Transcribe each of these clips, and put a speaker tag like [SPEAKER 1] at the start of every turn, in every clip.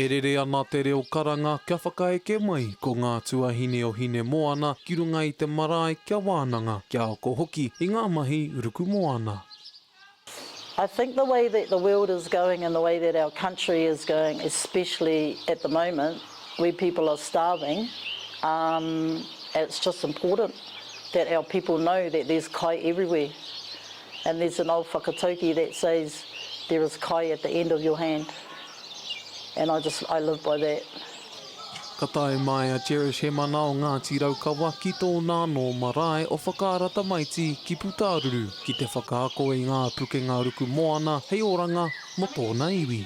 [SPEAKER 1] E rere ana te reo karanga kia whakaeke mai ko ngā tuahine o Hinemoana ki runga i te marae kia wānanga, kia ako hoki i ngā mahi rukumoana.
[SPEAKER 2] I think the way that the world is going and the way that our country is going especially at the moment We people are starving um it's just important that our people know that there's kai everywhere and there's an old whakatauki that says there is kai at the end of your hand and I just I live by that. Ka
[SPEAKER 1] tae mai a Cherish Hemana o Ngāti Raukawa ki tōna anō marae o Whakaara Tamaiti ki Putāruru ki te whakaako i ngā pukenga ruku moana hei oranga mō tōna iwi.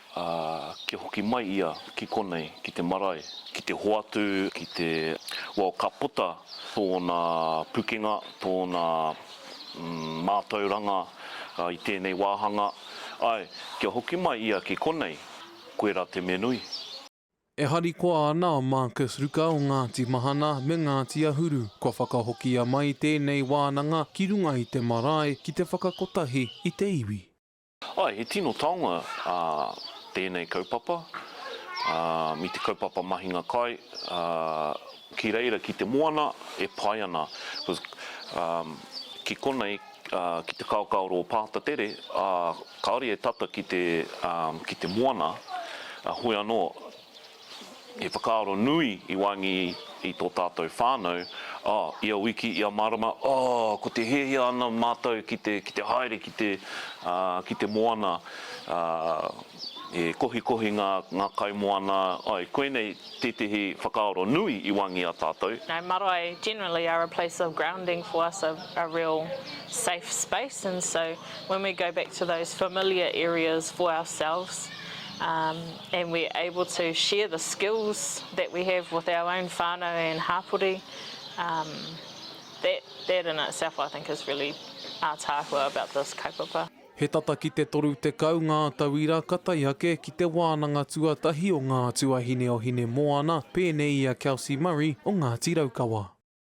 [SPEAKER 3] Ā, kia hoki mai ia ki konei, ki te marae, ki te hoatu, ki te, well, ka puta tōna pukenga, tōna, mm, mātauranga i tēnei wāhanga. Āe, kia hoki mai ia ki konei, koe rā te me nui. E
[SPEAKER 1] harikoa ana a Marcus Ruka o Ngāti Mahana me Ngāti Ahuru, kua whakahokia mai tēnei wānanga ki runga i te marae ki te whakakotahi i te iwi. Ae, he tino
[SPEAKER 3] taonga tēnei kaupapa, me te kaupapa mahinga kai, ki reira ki te moana e pai ana, ki konei ki te kaokaoro o Pāta Tere, kaore e tata ki te moana, hoi anō, he whakaaro nui i wāngi i tō tātou whānau, oh, ia wiki, ia marama, oh, ko te hiahia ana mātou ki te, ki te haere ki te, ah, ki te moana, ah, e kohikohi ngā, ngā kaimoana, ai, koinei tētehi whakaaro nui i wāngi i a tātou. No, marae generally
[SPEAKER 4] are a place of grounding for us, a, a real safe space, and so when we go back to those familiar areas for ourselves, um, and we're able to share the skills that we have with our own whānau and hāpori, um, that, that in itself I think is really ātaahua about this kaupapa. He tata ki te
[SPEAKER 1] 30 ngā tauira ka tae ake ki te wānanga tuatahi o Ngā Tuahine o Hinemoana, pēnei i a Kelsey Murray o Ngāti Raukawa.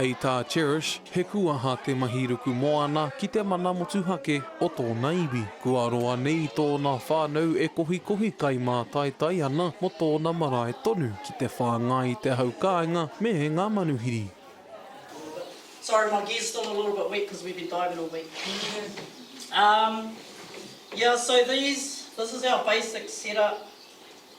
[SPEAKER 1] Hei tā Cherish, he kūaha te mahi ruku moana ki te mana motuhake o tōna iwi. Kua roa nei tōna whānau e kohikohi kai mātaitai ana mō tōna marae tonu ki te whāngai i te hau kāinga me ngā manuhiri.
[SPEAKER 2] Sorry my gear's still a little bit wet cause we've been diving all week um yeah so these this is our basic setup.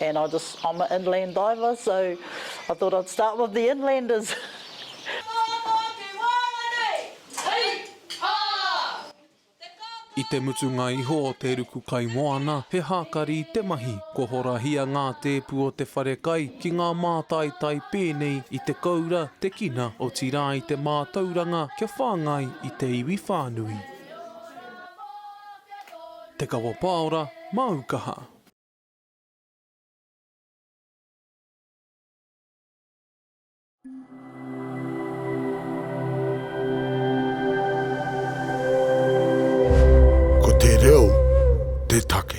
[SPEAKER 2] And I just I'm a inland diver so I thought I'd start with the inlanders.
[SPEAKER 1] I te mutunga iho o te ruku kaimoana, he hākari te mahi. Kua horahia ngā tēpu o te wharekai ki ngā mātaitai pēnei i te koura, te kina, otirā i te mātauranga kia whāngai i te iwi whānui. Te Kawa Paora, Māu Kaha. Ko te reo te take.